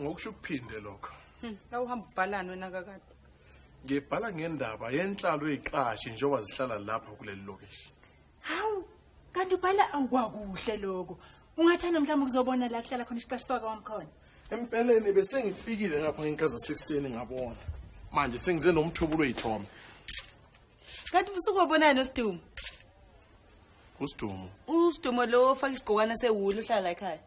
ngokusho ukuphinde lokho hmm, la uhamba ubhalani wena kakade ngibhala ngendaba yenhlalo eyiqashi njengoba zihlala lapha kuleli lokishi hawu kanti ubhala angikwakuhle lokho ungathanda mhlawumbe ukuzobona la kuhlala khona isiqashi saka wamkhona empeleni besengifikile ngapha ngenkaza sekuseni ngabona manje sengize nomthubulo oyithome kanti usuku wabonani nosidumo usidumo usidumo lo ofaka isigqokwana sewulu uhlala ekhaya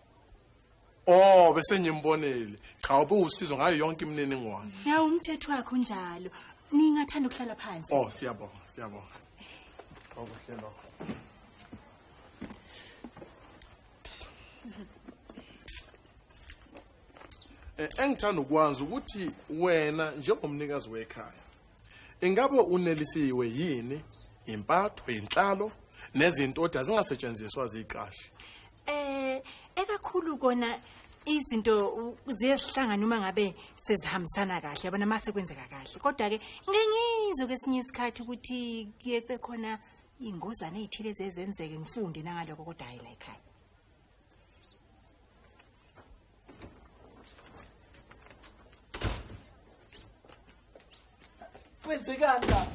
Oh bese ngimbonile. Cha ubuwusizo ngayo yonke imininingwane. Yawu umthetho wakho njalo. Ningathanda ukuhlala phansi. Oh siyabonga, siyabonga. Okuhle lokho. Eh, engithanda ukwazi ukuthi wena njengomnikazi wekhaya Ingabe unelisiwe yini impatho yenhlalo nezinto othi azingasetshenziswa ziqashi? Eh, ekakhulu kona izinto ziyezihlangana uma ngabe sezihambisana kahle yabona mase kwenzeka kahle kodwa ke ngengizwe kwesinye isikhathi ukuthi kuye kube khona ingozane ezithile zezenzeke ngifunde nangaloko kodwa hayi la ekhaya kwenzekani la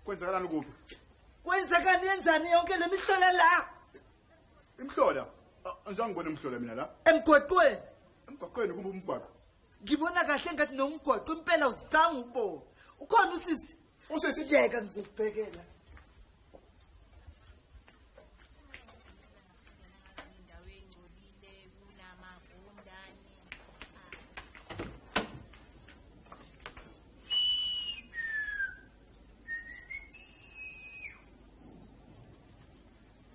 kwenzekalani kuphi kwenzekani yenzani yonke le mihlola la imhlola anjani ngibona imhlola mina la emgwaqweni emgwaqweni kumbe umgwaqo ngibona kahle ngathi nomgwaqo impela uzange ubone ukhona usisi usisi yeka ngizokubhekela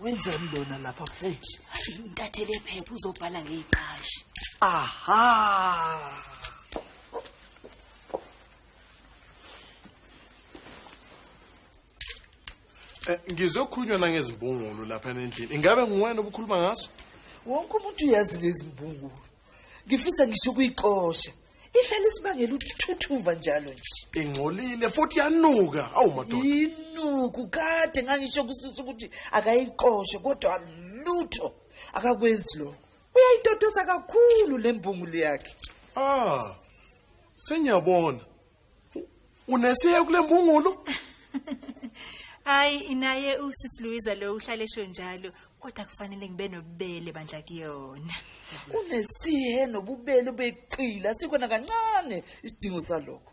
wenzeni lona lapha futhi intathele phepha uzobhala ngeyiqashi aha eh, ngizokhulunywa nangezimbungulu lapha nendlini ingabe nguwena obukhuluma ngaso wonke umuntu uyazi lezimbungulu ngifisa ngisho kuyixosha ihlala isibangela ukuthuthuva njalo nje ingcolile futhi yanuka awu madoda inuku kade ngangisho kusisa ukuthi akayiqoshe kodwa lutho akakwenzi lokho uyayitotosa kakhulu le mbungulu yakhe ah sengiyabona Unesiye kule mbungulu? Hayi inaye usisi Louisa lo uhlale esho njalo kodwa kufanele ngibe nobubele bandla kuyona. Unesihe nobubele beqila sikona kancane isidingo salokho.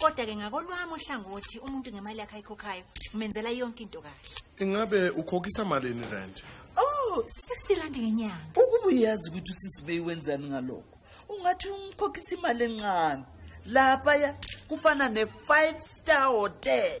kodwa-ke ngakolwami uhlangothi umuntu ngemali yakhe ayikhokhayo umenzela yonke into kahle ingabe ukhokhisa malini rent oh 60 rand ngenyanga ukuba uyazi ukuthi usisibeyi wenzani ngalokho ungathi umkhokhisa imali encane lapha ya kufana ne-five star hotel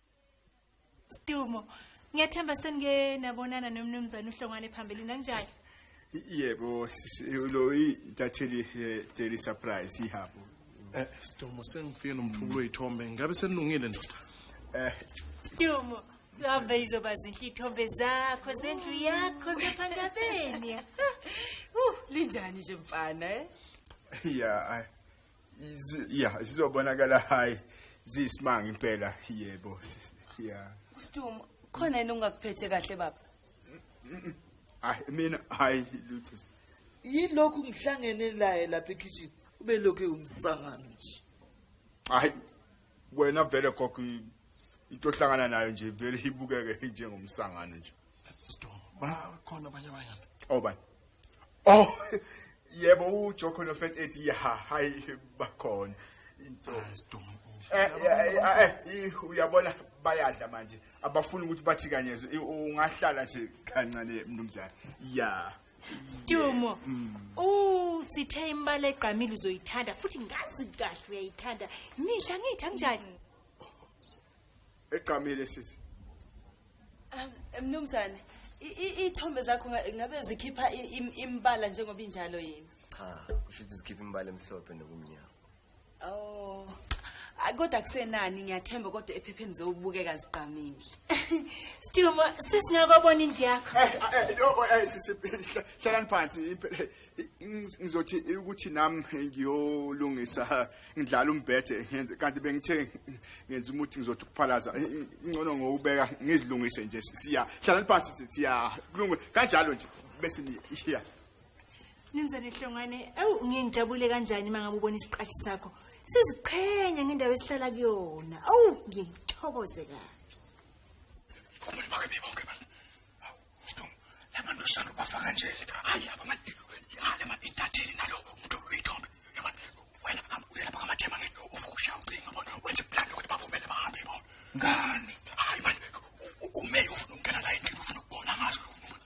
Stumo, ngiyathemba senike nabonana nomnumzane uhlongwane phambili nanjani? Yebo, lo intatheli daily surprise ihapho. Eh, Stumo sengifike nomthubulo oyithombe, ngabe senilungile ndoda? Eh, Stumo, kuhambe izoba zinhle ithombe zakho zendlu yakho ngaphandabeni. Uh, linjani nje mfana eh? Yeah, ya sizobonakala hayi ziyisimanga impela yebo ya Stum khona yini ungakuphethe kahle baba Hayi mina hayi lutho Yilokhu ngihlangene laye lapha ekhishini ube lokhu umsangano nje Hayi wena vele gogo i- into ohlangana nayo nje vele ibukeke njengomsangano nje bakhona abanye abanyana obani oh yebo ujoko nofet ethi ya hayi bakhona into Eh, eh, eh, eh, ih, uyabona bayadla manje abafuni ukuthi bathikanyezwe I- ungahlala nje kancane mnumzane ya Stumo. Uh, sithe imali egqamile uzoyithanda futhi ngazi kahle uyayithanda. Mihla ngithi anginjani? Egqamile sisi. Um, Mnumzane, i- i- ithombe zakho nga- ngabe zikhipha i- im- imbala njengoba injalo yini? cha kusho ukuthi zikhipha imbala emhlophe nokumnyama Oh. Ay, Kodwa kusenani ngiyathemba kodwa ephepheni zowubukeka zigqamile. Stumo, sesingakobona indlu yakho. Eh, eh, eh, oh, eh, sisi, hla- hlalani phansi impela, eh, ngiz- ngizothi ukuthi nami ngiyolungisa ngidlala umbhethe ngenze kanti bengithe ngenza umuthi ngizothi ukuphalaza Eh, ngcono ngowubeka ngizilungise nje siya hlalani phansi sithi, siya kulunge kanjalo nje bese niya Mnumzane Hlongwane, ewu ngingijabule kanjani uma ngabe ubona isiqashi sakho siziqhenya ngendawo esihlala kuyona. Awu ngiyithokoze kabi. Kumele bakhe bibonke bala. Awu, Stum, labantu sanu bafaka nje. Hayi laba manje. Yale manje intatheli nalo umuntu uyithombe. Yaba wena hamba uye lapha kamathema ngeke uvuke ushaya ucingo bona wenze plan ukuthi baphumele bahambe bona. Ngani? Hayi manje ume ufuna ukungena la endlini ufuna ukubona ngazo ufuna ukubona.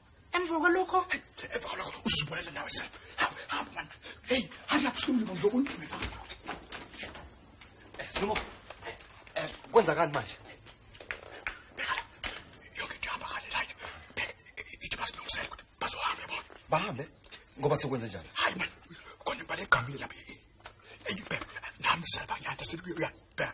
emva kwalokho emva kwalokho uzozibonela nawe self hamba hamba mani heyi hamba lapho sikumlima ngizokundimisa eh, sinomo eh, eh, kwenzakani manje yonke into ihamba kahle right bheka ithi basilungisele ukuthi bazohambe bona bahambe ngoba sekwenze njani hayi mani khona imbala egamile lapha eyibheka nami selbanyanda seluyabheka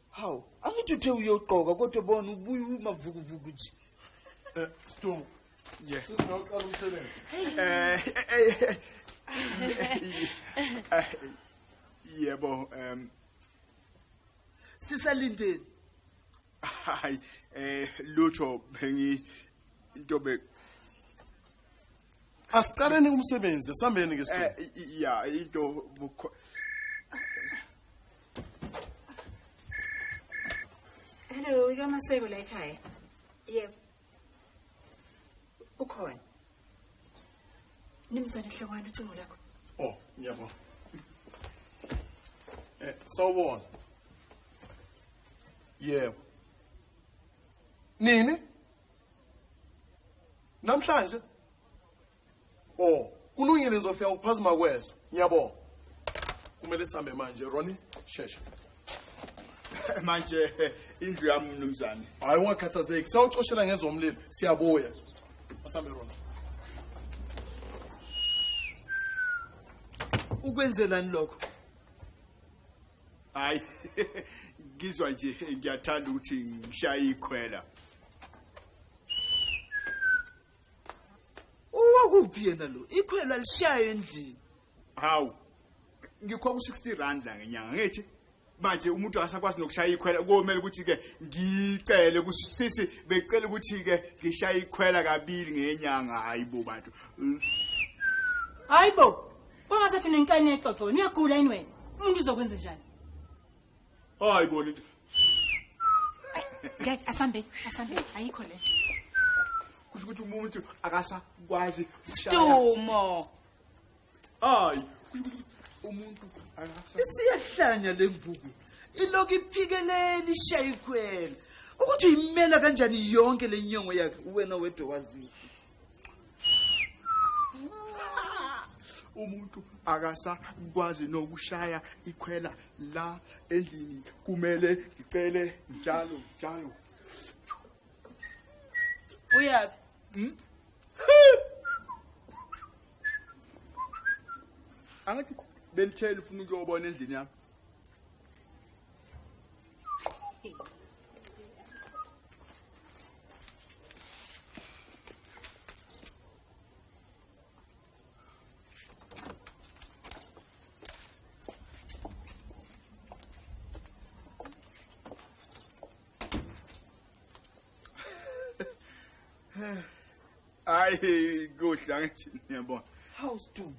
hawu angithi uthe uyogqoka kodwa bona ubuye umavukuvuku nje um stungu yes sisingawuqala umsebenzi um yebo um sisalindeni hayi eh lutho bengi into be Asiqaleni umsebenzi sambeni ke sithole. Eh, ya into Hello, ikamaseko la ekhaya. Yebo. Ukhona. Nimzane hlokwana ucingo lakho. Oh, ngiyabona. Eh, sawubona. Yebo. Nini? Namhlanje o kulungile ngizofika ukuphazima kweso ngiyabonga kumele sihambe manje roni shesha manje indlu yami mnumzane hhayi ungakhathazeki sawucoshela ngezomlilo siyabuya asambe rona ukwenzelani lokho hayi ngizwa nje ngiyathanda ukuthi ngishaye ikhwela uwakuphi yena lo ikhwelo alishayo endlini hawu ngikho ku-60 rand la ngenyanga ngithi manje umuntu akasakwazi nokushaya ikhwela komele ukuthi-ke ngicele kusisi becela ukuthi-ke ngishaye ikhwela kabili ngenyanga hayi bo bantu hayi bo kwangasathi nenkani exoxo niyagula yini wena umuntu uzokwenze njani hayi bona into ngeke asambe asambe ayikho le kusho ukuthi umuntu akasakwazi stumo hayi kusho ukuthi umuntu akasakwazi isiyahlanya lembuku iloku iphikeleli shayikhwela ukuthi uyimela kanjani yonke lenyongo yakhe uwena wedwa wazizwa umuntu akasakwazi nokushaya ikhwela la endlini kumele ngicele njalo njalo uyaphi hmm? angathi benitheni ufuna ukuyobona endlini yami hayi kuhle angithi niyabona hawu stum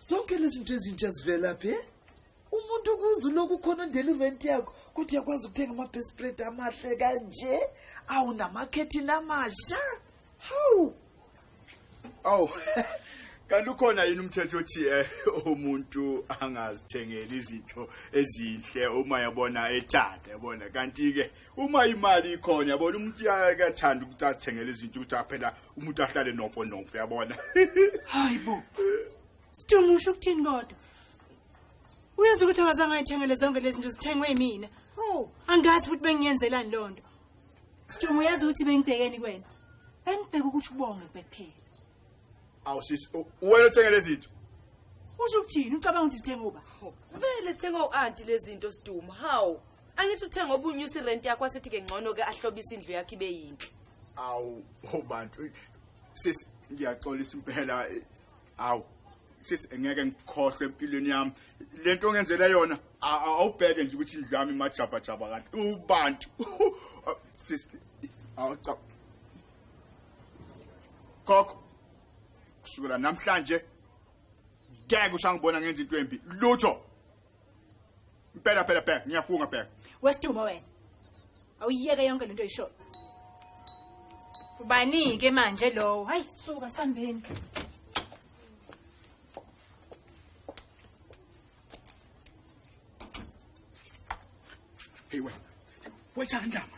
zonke lezi zinto ezintsha zivela phi umuntu ukuze uloku khona ondela irent yakho kodwa uyakwazi ukuthenga ama-best bread amahle kanje awu namakhethini amasha hawu awu kanti ukhona yini umthetho othi eh, umuntu angazithengeli izinto ezinhle uma yabona ethanda yabona kanti-ke uma imali ikhona yabona umuntu uyathanda ukuthi azithengele izinto ukuthi aphela umuntu ahlale nofo nofo yabona hayi bo sidungu usho ukuthini kodwa uyazi ukuthi akazange ayithengele zonke lezi zinto zithengwe yimina oh. angazi futhi bengiyenzelani loo nto sidungu uyazi ukuthi bengibhekeni kwena bengibheke ukuthi ubonge kuphela awu sisi uwena othenge lezi zinto usho ukuthini ucabanga ukuthi zithenge uba vele zithenge u-anti lezi zinto siduma hawu angithi uthe ngoba unyusa irenti yakho asithi-ke ngcono ke ahlobisa indlu yakho ibe yinhle awu ho bantu eh, sisi ngiyaxolisa impela eh, awu sisi ngeke ngikhohlwe empilweni yami le nto ongenzela yona a- a- awubheke nje ukuthi indlu yami imajabhajabha kanti ubantu Ah, sisi awu cha khokho kusukela namhlanje ngeke usangibona ngenza into embi lutho Impela phela bheka ngiyafunga bheka. Wesidumo wena. Awuyeke yonke lento oyishoyo. Ubani ke manje lowo? Hayi suka sambeni. Hey wena. Wethanda manje.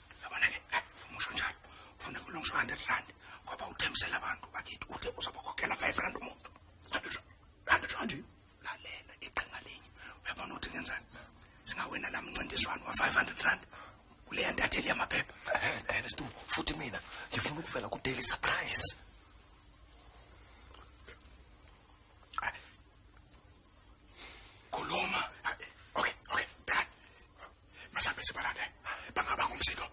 yabona ke uma usho njalo ufuna kulungiswa 100 rand ngoba uthembisela abantu bakithi uthe uzobakhokhela 5 rand umuntu andishanje lalela iqhinga linye uyabona ukuthi ngenzani singawena la mncintiswano wa-500 rand kuleya ntatheli yamaphepha and stu futhi mina ngifuna ukuvela ku-daily surprise khuluma Masambe sibalane. Bangaba ngomsindo.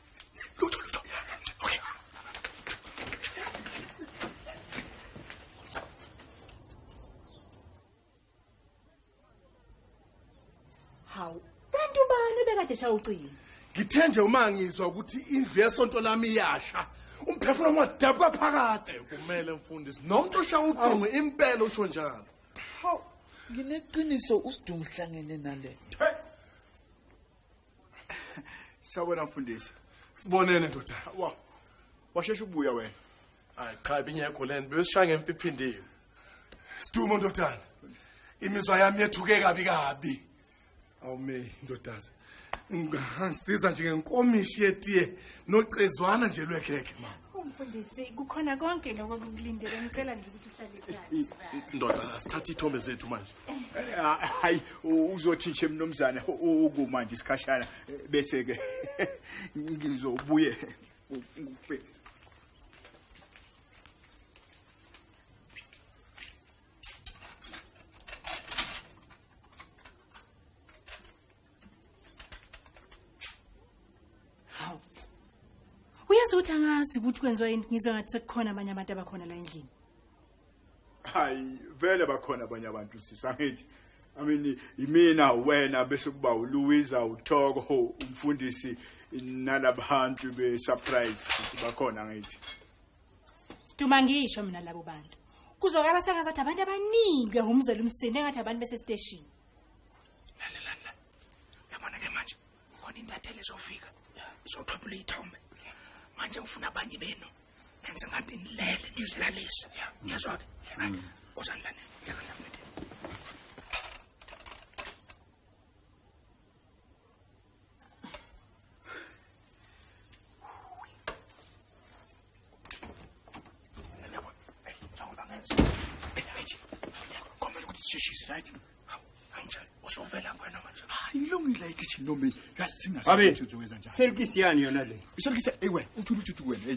Lutho lutho. Okay. Hawu, kanti ubani bekade shaya ucingo? Ngithe nje uma ngizwa ukuthi indlu yesonto lami iyasha. Umphefumulo ngwadabuka phakathi. Eh, kumele mfundisi. Nomuntu oshaya ucingo impela usho njalo. Hawu, ngineqiniso usidungu hlangene nale. Hey. Sawubona mfundisi. Sibonene ndoda. Wa. Washesha ubuya wena. Hayi cha binyekho lento besishaya ngemphiphindini. Sidumo ndodana. Imizwa yami yethuke kabi kabi. Awume ndodazi. Ngangisiza nje ngenkomishi yetiye nocezwana nje lwekhekhe mama. Umfundisi kukhona konke lokho kukulindele ngicela nje ukuthi uhlale phansi. Ndoda sithatha ithombe zethu manje. Eh, hayi uzothi nje mnumzane ukuma nje isikhashana eh, bese ke ngizobuye ngikubhekise hawu uyazi ukuthi angazi ukuthi kwenziwa yini ngizwa ngathi sekukhona abanye abantu abakhona la endlini hayi vele bakhona abanye abantu sisi angithi I mean imina wena bese kuba uLuiza uThoko umfundisi nalabantu be surprise sibakhona ngithi Siduma ngisho mina labo bantu kuzokaba sengazathi abantu abaningi behumzela umsini engathi abantu bese station lalela la yabona ke manje khona intatheli izofika izothwebula iyithombe manje ufuna abanye benu nenze ngathi nilele nizilalise ngiyazwa ke uzanilane sishise right kanjani usovela kwena manje hayi ilungile ikitchen noma yazi singasenze uzowenza njani selkisi yani yona le iselkisi ewe uthula ujuthi wena hey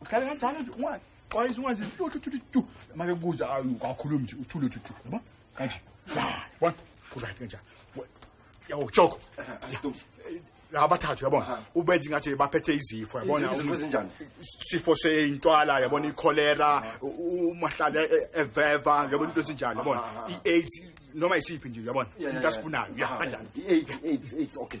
uhlale kanjalo nje ungwazi xwayisa ungwazi lutho thuthi tu make kuza akhulumi nje uthule thuthi yabo kanje one kuzathi kanjani yawo joko abathathu yabona ubenza ingathi baphethe izifo yabona isifo seyintwala yabona ikholera umahlala e, e, eveva yabona into ezinjani yabona i-aids noma isiphi nje yabona into asifunayo ya kanjani i-aids okay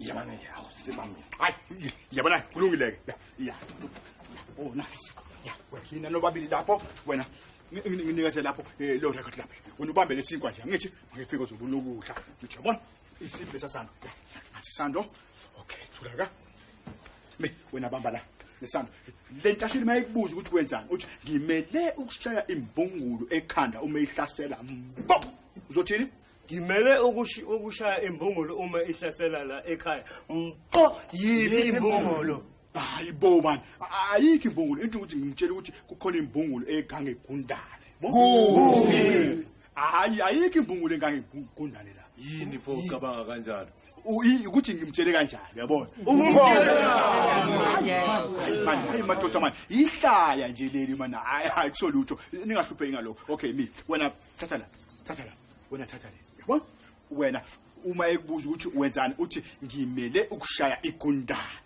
yabona ke awu sibambe hayi yabona kulungile ke ya oh nafisi ya wena nobabili lapho wena nginikeze lapho eh, lo record lapho wena ubambe lesinkwa nje ngithi ngifike uzobulukudla ngithi yabona isifo sasando athi sando okay thula ka me wena bamba la lesando le ntashini mayikubuza ukuthi kwenzani uthi ngimele ukushaya imbungulu ekhanda uma ihlasela mbo uzothini ngimele ukush- ukushaya imbungulu uma ihlasela la ekhaya mpo yiphi imbungulu hayi bo mani A- ayikho imbungulu into ukuthi ngitshela ukuthi kukhona imbungulu egange egundane Kuphi? hayi ayikho imbungulu egange egundane la yini pho ucabanga kanjalo ukuthi ngimtshele kanjani yabona hayi madoda mani yihlaya nje leli mani hayi hayi kusolutho ningahlupheki ngalokho okay mi wena thatha la thatha la wena thatha le yabona wena uma ekubuza ukuthi wenzani uthi ngimele ukushaya igundana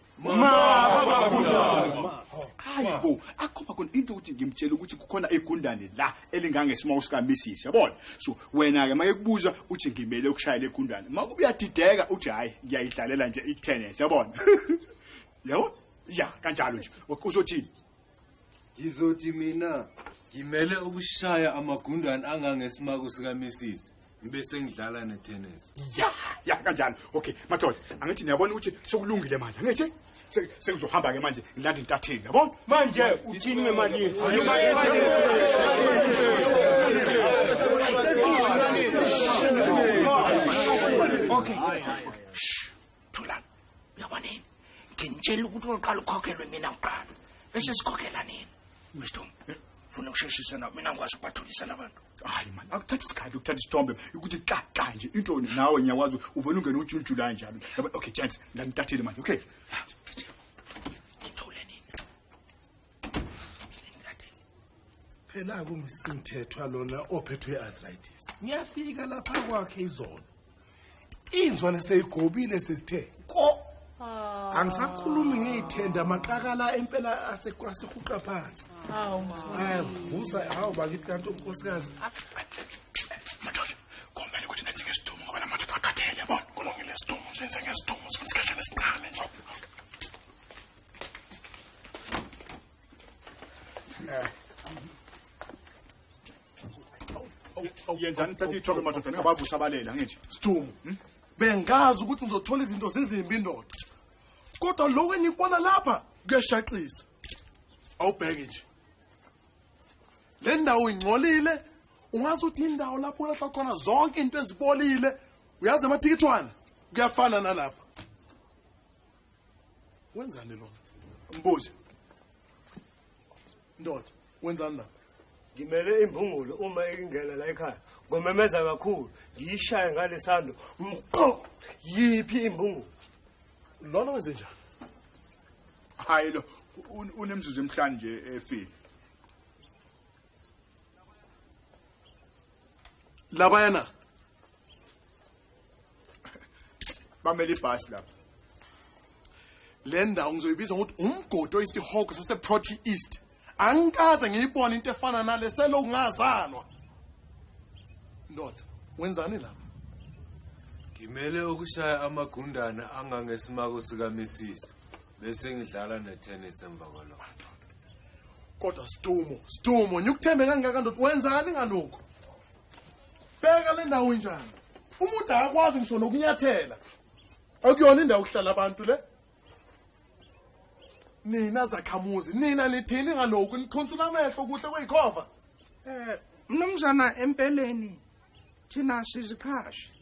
hayi bo akhomba khona into ukuthi ngimtshela ukuthi kukhona igundane la elingangesimo sikamisishi yabona so wena-ke make kubuza uthi ngimele ukushayela igundane ma ubuyadideka uthi hhayi ngiyayidlalela nje i-tennis yabona yabo ya kanjalo nje uzothini ngizothi mina ngimele ukushaya amagundwane angangesimako sikamisisi ngibe sengidlala netennis ya ya kanjani okay madoda angithi niyabona ukuthi sekulungile manje angithi sekuzohamba-ke manje ngilanda intatheni yabona manje uthini ngemali yethu okay thulani uyabona yini ngintshela ukuthi uqala ukhokhelwe mina ngiqala bese sikhokhela nini wisdom funa ukusheshisa nabo mina ngikwazi ukubathulisa labantu hayi mani akuthatha isikhathi ukuthatha isithombe ukuthi kaka nje intoni nawe ngiyakwazi uvele ungene ujunjulayo njalo okay gents ndanitathile manje okay phela kumsimthethwa lona ophethwe arthritis ngiyafika lapha kwakhe izolo inzwane seyigobile sesithe ko ah. angisakhulumi ngiyithenda amaqakala empela asehuqa phansi vusa hawu bakithi kanti unkosikazi ah. madoda kumele ukuthi nethi ngesidumo ngoba namadoda akhathele yabona kulungile isidumo senze ngesidumo sifuna isikhashana esincane nje yenzani uthatha ithoko madoda ningabavusa abalele angithi stumo hmm? bengazi ukuthi ngizothola izinto zizimbi indoda kodwa lo wenikwana lapha kuyashaqisa awubheke nje le ndawo ingcolile ungazi ukuthi indawo lapho ulahla khona zonke into ezibolile uyazi amathikithwana kuyafana nalapha wenzani lona mbuzi ndoda wenzani lapha ngimele imbungulu uma ingena la ekhaya ngomemeza kakhulu ngiyishaye ngalesando mqo yiphi imbungulu lona wenze njani hayi lo unemzuzu emhlanje nje efile labayana bamele ibhasi lapha le ndawo ngizoyibiza ngokuthi umgodi oyisihogo saseproty east angikaze ngiyibone into efana nale selokhu ngazalwa ndoda wenzani lapha ngimele ukushaya amagundana angangesimako sikamisisi bese ngidlala netennis emva kwalokho kodwa sidumo sidumo nyukuthembe kangaka ndoda wenzani ngalokho bheka le ndawo injani umuntu akakwazi ngisho nokunyathela akuyona indawo okuhlala abantu le nina zakhamuzi nina nithini ngalokhu nikhonsula amehlo kuhle kweyikhova um mnumzana empeleni thina siziqhashi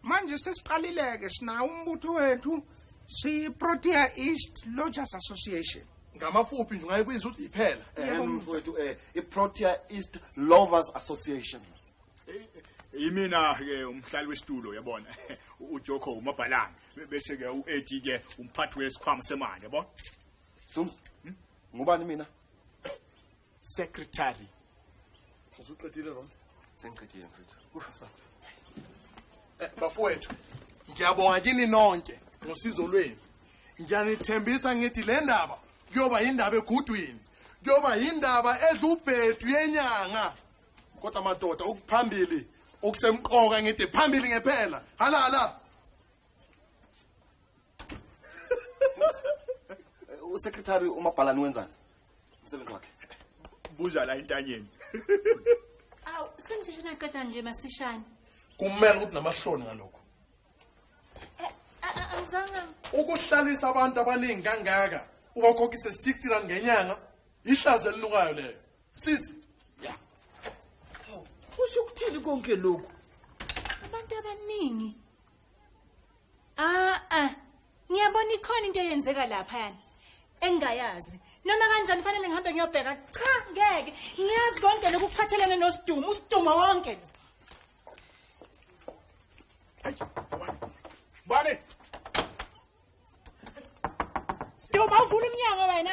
manje sesiqalileke sinawo umbutho wethu siyi-protea east lodgers association ngamafuphi nje ungayibiza ukuthi iphela Yebo, um mfowethu. mfowethu um i-protea east lovers association yimina-ke umhlali wesitulo yabona ujoko umabhalane bese-ke u-eti-ke umphathi wesikhwama semali yabona sums ngubani mina secretary usuqedile ron sengiqedile mfethu kusasa eh, bafowethu ngiyabonga kini nonke ngosizo lwenu ngiyanithembisa ngithi le ndaba kuyoba yindaba egudwini kuyoba yindaba edla ubhedu yenyanga kodwa madoda ukuphambili okusemqoka ngithi phambili ngephela hala hala usekretary umabhalani wenzani umsebenzi wakhe buza la intanyeni awu senjishe naqeda nje masishane kumele ukuthi namahloni ngalokho eh, eh, eh, angizanga ukuhlalisa abantu abaningi kangaka ubakhokhise 60 rand ngenyanga ihlazo elinukayo leyo sisi ya kusho ukuthini konke lokhu abantu abaningi Ah ah. Ngiyabona ikhona into eyenzeka lapha yana. Engayazi. Noma kanjani fanele ngihambe ngiyobheka. Cha ngeke. Ngiyazi konke lokhu kuphathelene nosidumo, usidumo wonke. Bani. Sidumo uvula umnyango wena.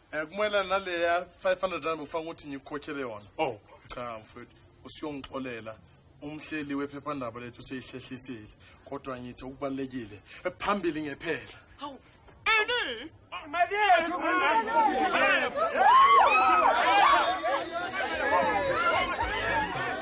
um kumele naleya five hundred rand bufanga ukuthi ngikukhokhele yona oh cha mfowethu usuyongixolela umhleli wephephandaba lethu useyihlehlisile kodwa ngithi okubalulekile phambili ngephela hawu ani mali yethu